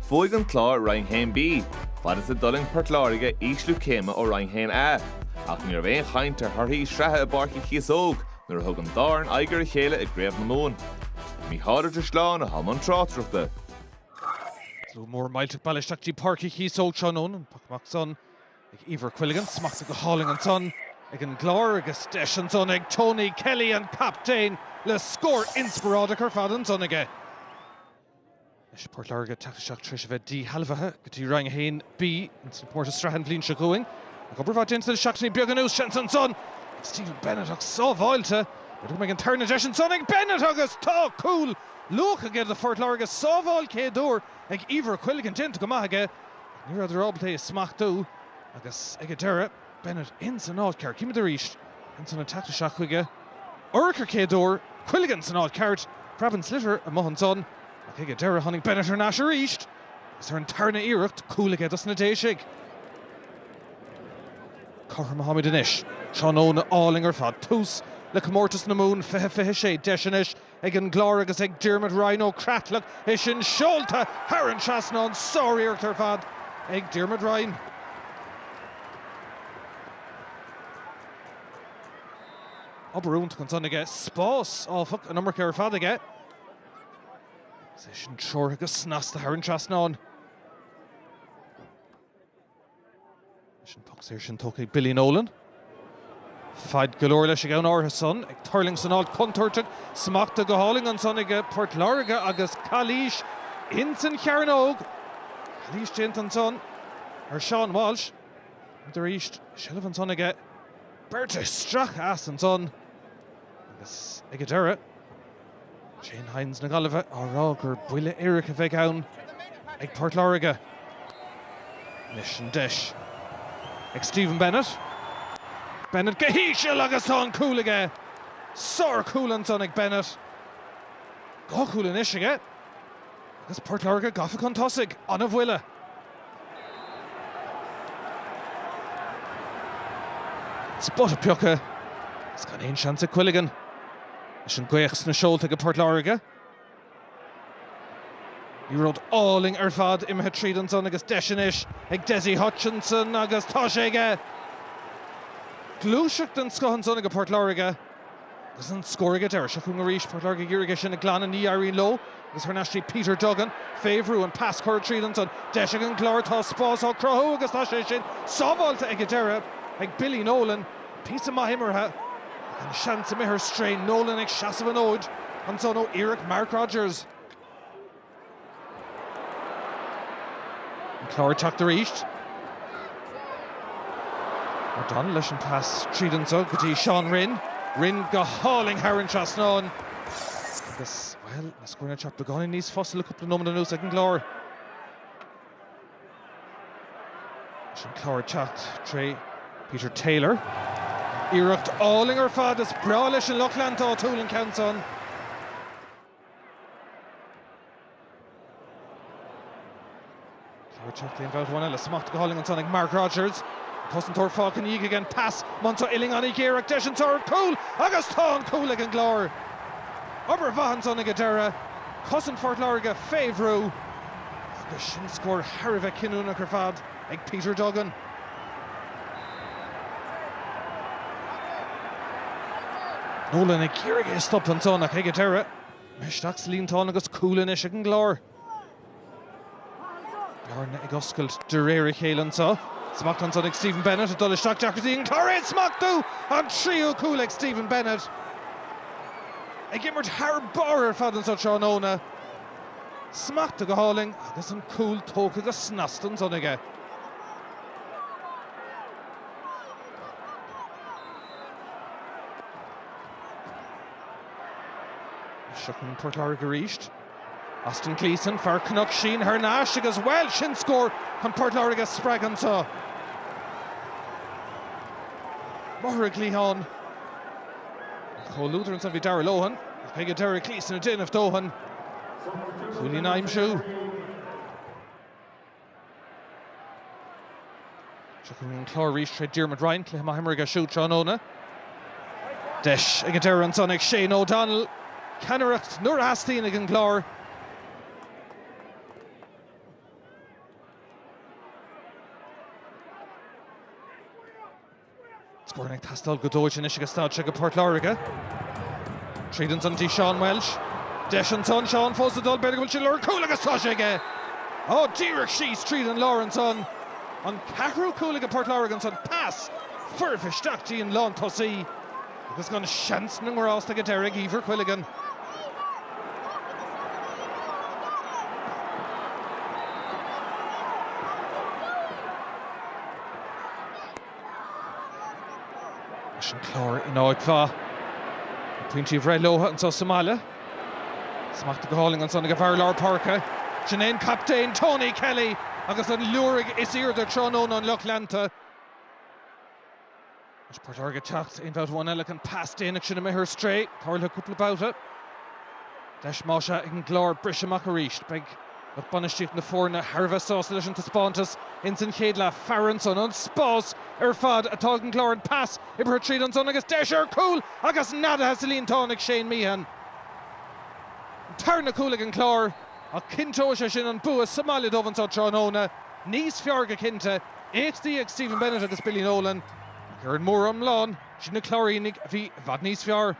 Bhuaigh An Clár Roinn 1B, fad is a d'fhulaing Port Láirge ísliú céime ó Roinn 1A, ach ní raibh aon chaint ar thorthaí sraithe i bPáirc Uí Chíosóg nuair a thug an dá fhoireann aghaidh ar a chéile i gCraobh na Mumhan. Mícheál Ó Drisleáin atá i mbun tráchtaireachta. Slua mór millteach bailithe isteach dtí Páirc Uí Chíosóg tráthnóna, an poc amach san. ag Éibhear Quilligan, smachta go hálainn ansan ag an gClár agus deis ansan ag Tony Kelly, an captaen, le scór inspioráideach ar fad ansan aige. Anois Port Láirge teacht isteach tar éis a bheith díshealbhaithe go dtí Roinn 1B in san comórtas sraithe an bhliain seo chugainn. Ach obair mhaith déanta le seachtainí beaga anuas, seans ansan ag Stephen Bennett ach sábháilte. B'fhéidir go mbeidh an tarna deis ansan ag Bennett agus tá cúl luath aige do Phort Láirge. Sábháil céad uair ag Éibhear Quilligan déanta go maith aige. Ach ní raibheadar ábalta é a smachtú agus ag an deireadh, Bennett ins an áit ceart. Címid arís ansan ag teacht isteach chuige. Urchar céad uair, Quilligan san áit ceart. Preabann an sliotar amuigh ansan ach ag an deireadh tháinig Bennett thar n-ais arís agus ar an tarna iarracht cúl aige dos na Déisigh. Cothrom atáimid anois. Tráthnóna álainn ar fad. Tús le Comórtas na Mumhan 2026 deis anois Ag an gClár agus ag Diarmuid Ryan ó Creatalach é sin seolta thar an trasnán. Sár-iarracht ar fad ag Diarmuid Ryan. Obair iontach ansan aige. Spás, áfach, an iomarca ar fad aige. Is é sin treoraithe go snasta thar an trasnán. Leis an poc saor sin tógtha ag Billy Nolan. Faid go leor leis ag am áirithe san. Ag tuirlingt san áit chontúirteach. Smachta go hálainn ansan ag Port Láirge agus calaois ins an chearnóg. Calaois déanta ansan ar Sheán Walsh. Címid arís. Seilbh ansan aige. Beirt isteach as ansan agus ag an deireadh. Shane Hynes na Gaillimhe á rá gur buille éiric a bheidh ann ag Port Láirge anois an deis ag Stephen Bennett. Bennett go híseal agus tá an cúl aige. Sárchúl ansan ag Bennett. Dhá chúl anois aige agus Port Láirge gafa chun tosaigh. An-bhuille. Spota pioctha agus gan aon seans ag Quilligan. Leis an ngaoth sna seolta aige Port Láirge. Liathróid álainn ar fad imithe tríd ansan agus deis anois ag Dessie Hutchinson agus tá sé aige! Gluaiseacht den scoth ansan aige Port Láirge. Agus an scór ag an deireadh. Seo chugainn arís. Port Láirge ag iarraidh é sin a ghlanadh. Ní éiríonn leo agus thar n-ais dtí Peter Duggan. Fé bhrú, an pas curtha tríd ansan. Deis ag an gClár. Tá spás á chruthú agus tá sé sin sábháilte ag an deireadh ag Billy Nolan. Píosa maith imeartha ach an seans imithe ar strae. Nolan ag seasamh an fhóid ansan ó iarracht Mark Rodgers. An Clár ag teacht arís. O'Donnell leis an pas tríd ansan go dtí Seán Rynne. Rynne go hálainn thar an trasnán agus, bhuel, na scóranna ag teacht beagáinín níos fusa le cúpla nóiméad anuas ag an gClár. Leis an Clár ag teacht tré Peter Taylor. Iarracht álainn ar fad is breá leis an lucht leanta áitiúil an ceann san. Clár ag teacht aon bhabhta amháin eile, smacht go hálainn ansan ag Mark Rodgers. An cosantóir fágtha ina dhiaidh aige an pas, Monsá uillinn an-ghéar ach deis an tarna cúl agus tá an cúl ag an gClár. Obair mhaith ansan ag an deireadh, cosaint Phort Láirge fé bhrú agus sin scór thar a bheith cinniúnach ar fad. ag Peter Duggan. Nolan ag iarraidh é a stop ansan ach ag an deireadh isteach sa líontán agus cúl anois ag an gClár. Bearna ag oscailt de réir a chéile anso. Smacht ansan ag Stephen Bennett ag dul isteach deacrachtaí ag an gClár é a smachtú! An tríú cúl ag Stephen Bennett. Ag imirt thar barr ar fad anso tráthnóna. Smacht go hálainn agus an cúl tógtha go snasta ansan aige. Seo chugainn Port Láirge arís. Austin Gleeson, fear Chnoc Síon thar n-ais agus bhuel, sin scór chun Port Láirge a spreagadh anso. Amach ar an gcliathán, comhluadar ansan bhí Darragh Lohan. Ag an deireadh Gleeson ag déanamh dóthain. Cúilín a aimsiú. Seo chugainn an Clár arís tré Diarmuid Ryan, cluiche maith imeartha aige siúd tráthnóna. Deis ag an deireadh ansan ag Shane O'Donnell ceannaireacht nuair a theastaíonn ag an gClár. Scóranna ag teastáil go dóite anois ag an staid seo ag Port Láirge. Tríd ansan dtí Seán Walsh. Deis ansan, Seán fós ag dul, b'fhéidir go bhfuil sé ag lorg cúl agus tá sé aige! Ó, díreach síos tríd an lár ansan. An ceathrú cúl aige Port Láirge ansan. Pas foirfe isteach dtí an lántosaí. Agus gan seans na ngrást ag an deireadh ag Eibhear Quilligan. Anois an Clár in áit mhaith, na pointí a bhreith leo anso sa mbaile. Smacht go hálainn ansan ag a bhfear lár páirce, sin é an captaen Tony Kelly agus an liúirigh is aoirde tráthnóna an lucht leanta. Anois Port Láirge ag teacht aon bhabhta amháin eile ach an pas déanach sin a imigh ar strae. Tá tarlaithe cúpla babhta. Deis más ea ag an gClár briseadh amach arís. Beidh lucht bainistíochta na foirne thar a bheith sásta leis an taispeántas ins an chéad leath. Fabhar ansan. An spás ar fad atá ag an gClár. An pas oibrithe tríd ansan agus deis ar chúl agus neadaithe sa líontán ag Shane Meehan. An tarna cúl ag an Clár ach cinnteoidh sé sin an bua sa mbaile dóibh anso tráthnóna. Níos fearr go cinnte. éachtaí ag Stephen Bennett agus Billy Nolan ach ar an mór-iomlán, is iad na Cláirínigh a bhí i bhfad níos fearr.